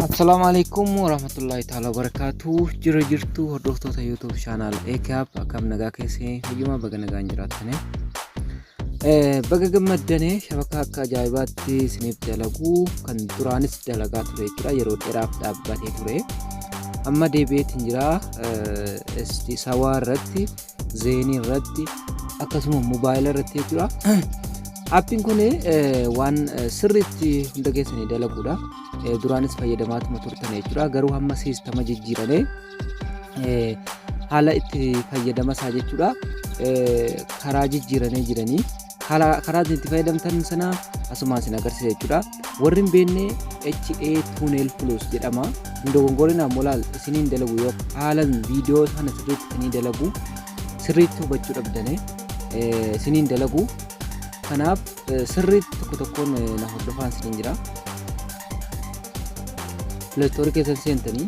Assalaamu alaikum warahmatullahi ta'ala wabarakatuh Jira jirtu hordoftoota YouTube channel AKAP akkam nagaa keessee fayyuma baga nagaan jiraattane Baga gammaddane shabakaa akka ajaa'ibaatti isiniif dalagu kan duraanis dalagaa ture jechuudha yeroo dheeraaf dhaabbatee ture amma deebi'eetiin jira sawaa irratti zeenii irratti akkasuma mobaayila irratti jechuudha. Appiin kun waan sirriitti hunda keessanii dalaguudha. Duraanis fayyadamaatuma turtan jechuudha. Garuu hamma siistama jijjiirame haala itti fayyadama isaa jechuudha karaa jijjiiranii jiranii. haala karaa itti fayyadamtan sana asumaan isin agarsiisa jechuudha. Warri hin beekne HA Tunnel Plus jedhama. Hin dogongorinaa molaal isiniin dalagu yoo haalan viidiyoo sana sirriitti isinii dalagu sirriitti hubachuu dhabdane isiniin dalagu. Kanaaf sirriitti tokko tokkoon na hordofaan isiniin jira. Pileestoorii keessan seentanii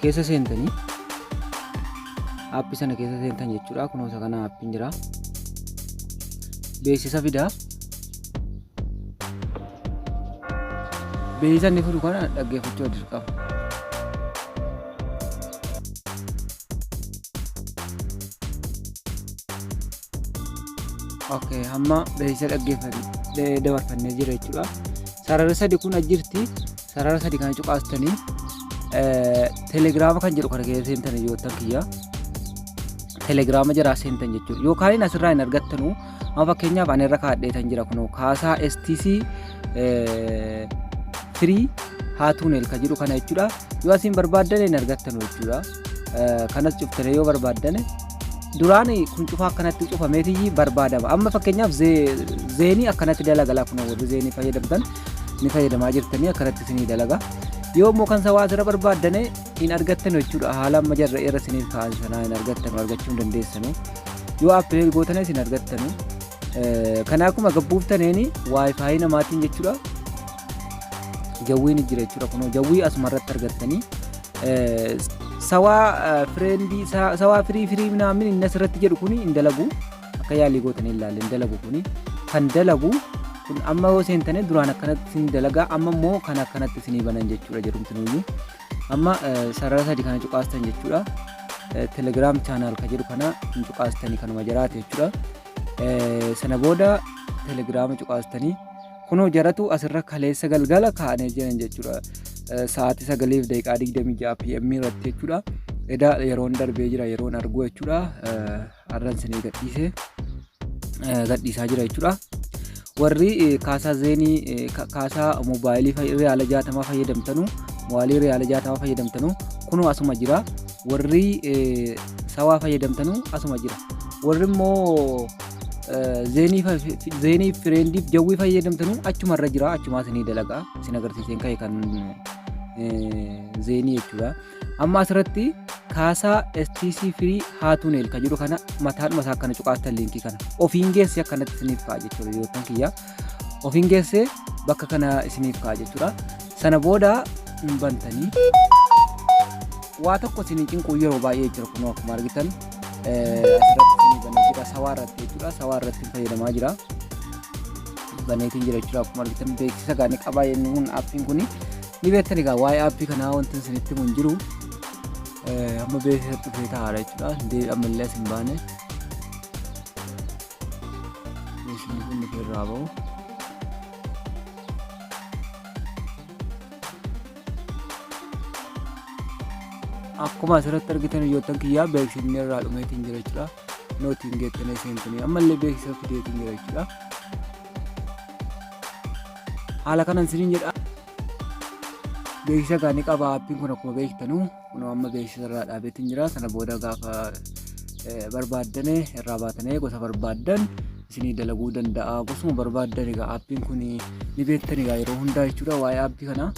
keessa seentanii aappi sana keessa seentan jechuudha kunoo isa kana aappiin jira beeksisa fida beeksisa inni fidu kana dhaggeeffachuu dirqama okay hamma beeksisa dhaggeeffannee dabarfannee jira jechuudha sarara sadi kun ajjirti Sarara sadi kana cuqaastanii telegiraama kan jedhu kana keessa seentan hiriyoottan kiyya. Telegiraama jaraa seentan jechuudha. Yookaan asirraa hin argattanu amma fakkeenyaaf ani irra kaadheetan jira kunoo kaasaa STC firii haatuunel kan jedhu kana jechuudha. Yoo asiin barbaaddan hin argattanu jechuudha. kanas cuftanii yoo barbaaddane duraan kun cufaa akkanatti cufameetii barbaadama amma fakkeenyaaf zeenii akkanatti dalagalaa kun warri zeenii fayyadamtan ni fayyadamaa jirtanii akkanatti isinii dalaga yoo immoo kan sawaa asirra barbaaddane hin argattan jechuudha haala amma jarra irra isiniif ka'an sanaa hin argattanu argachuu hin dandeessanu yoo appileet gootanis hin argattanu kanaa akkuma gabbuuftaneeni waayifaayi namaatiin jechuudha Jawwii ni jira jechuudha kunoo jawwii asuma irratti argattanii sawaa fireendii sawaa firii firii minaamin inni asirratti jedhu kuni hin dalagu akka yaalii gootanii ilaalle hin dalagu kuni kan dalagu kun amma yoo seentanii duraan akkanatti sin dalagaa amma immoo kan akkanatti sinii banan jechuudha jedhumti nuyyuu amma sarara sadi kana cuqaastan jechuudha telegiraam chaanaal ka jedhu kana hin cuqaastanii kanuma jiraate jechuudha sana booda telegiraama cuqaastanii Kunoo jaratu asirra kaleessa galgala kaanee jiran jechuudha. Sa'aatii sagaliif daqiiqaa digdamii ja'a PM irratti jechuudha. Edaa yeroon darbee jira yeroon arguu jechuudha. Har'an isinii gadhiisee gadhiisaa jira jechuudha. Warri kaasaa zeenii kaasaa moobaayilii riyaala jaatamaa fayyadamtanu moobaayilii riyaala jaatamaa fayyadamtanu kunoo asuma jira. Warri sawaa fayyadamtanu asuma jira. Warri immoo Zeeniif fireendiif jawwii fayyadamtanuu achuma irra jira achumaas ni dalaga isin agarsiiseen ka'e kan zeenii jechuudha. Amma asirratti kaasaa STC firii haatuuneel kan jedhu kana mataadhuma isaa akkana cuqaastan liinkii kana ofiin geessi akkanatti isiniif fa'a jechuudha yoo ta'an kiyyaa. ofiin geessee bakka kana isiniif ka'a jechuudha. Sana booda hin bantanii waa tokko isin cinquu yeroo baay'ee jira kun akkuma argitan asirratti isin banee jira sawaa irratti jechuudha sawaa irratti fayyadamaa jira baneetiin jira jechuudha akkuma argitan beeksisa gaanii qabaa inni kun aappiin kun ni beektan egaa waa'ee aappii kanaa wanti isinitti mun jiru amma beeksisa dhufee taa'aadha jechuudha ammallee isin baane Meeshaan kun nuti irraa ba'u. Akkuma asirratti argitan hojjettan kiyyaa beeksifni irraa dhumeetiin jira jechuudha. Nootiin geettanee seentanii ammallee beeksisa fideetiin jira jechuudha. Haala kanan siniin jedha. Beeksisa gaanii qaba appiin kun akkuma beektanu. Kunoo amma beeksisa irraa dhaabeetiin jira. Sana booda gaafa eh, barbaaddane irraa baatanee gosa barbaaddan isinii dalaguu danda'a. Gosuma barbaaddan egaa aappiin kun ni beektan egaa yeroo hundaa jechuudha waa'ee aappii kanaa.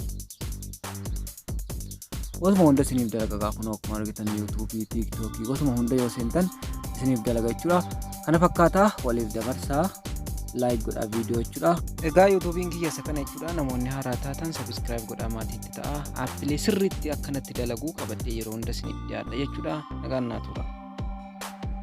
Gosuma hunda isiniif dalaga egaa kunoo akkuma argitan yuutuubii, tiiktookii gosuma hunda yoo seentan isiniif dalaga jechuudha. Kana fakkaataa waliif dabarsaa laayik godhaa viidiyoo jechuudha. Egaa yuutuubiin kiyya isa kana jechuudha. Namoonni haaraa taatan sabiskiraayib godhaa maatii ta'a aappilee sirriitti akkanatti dalaguu qabadhee yeroo hunda isiniif dhiyaadha jechuudha nagaan naa turaa.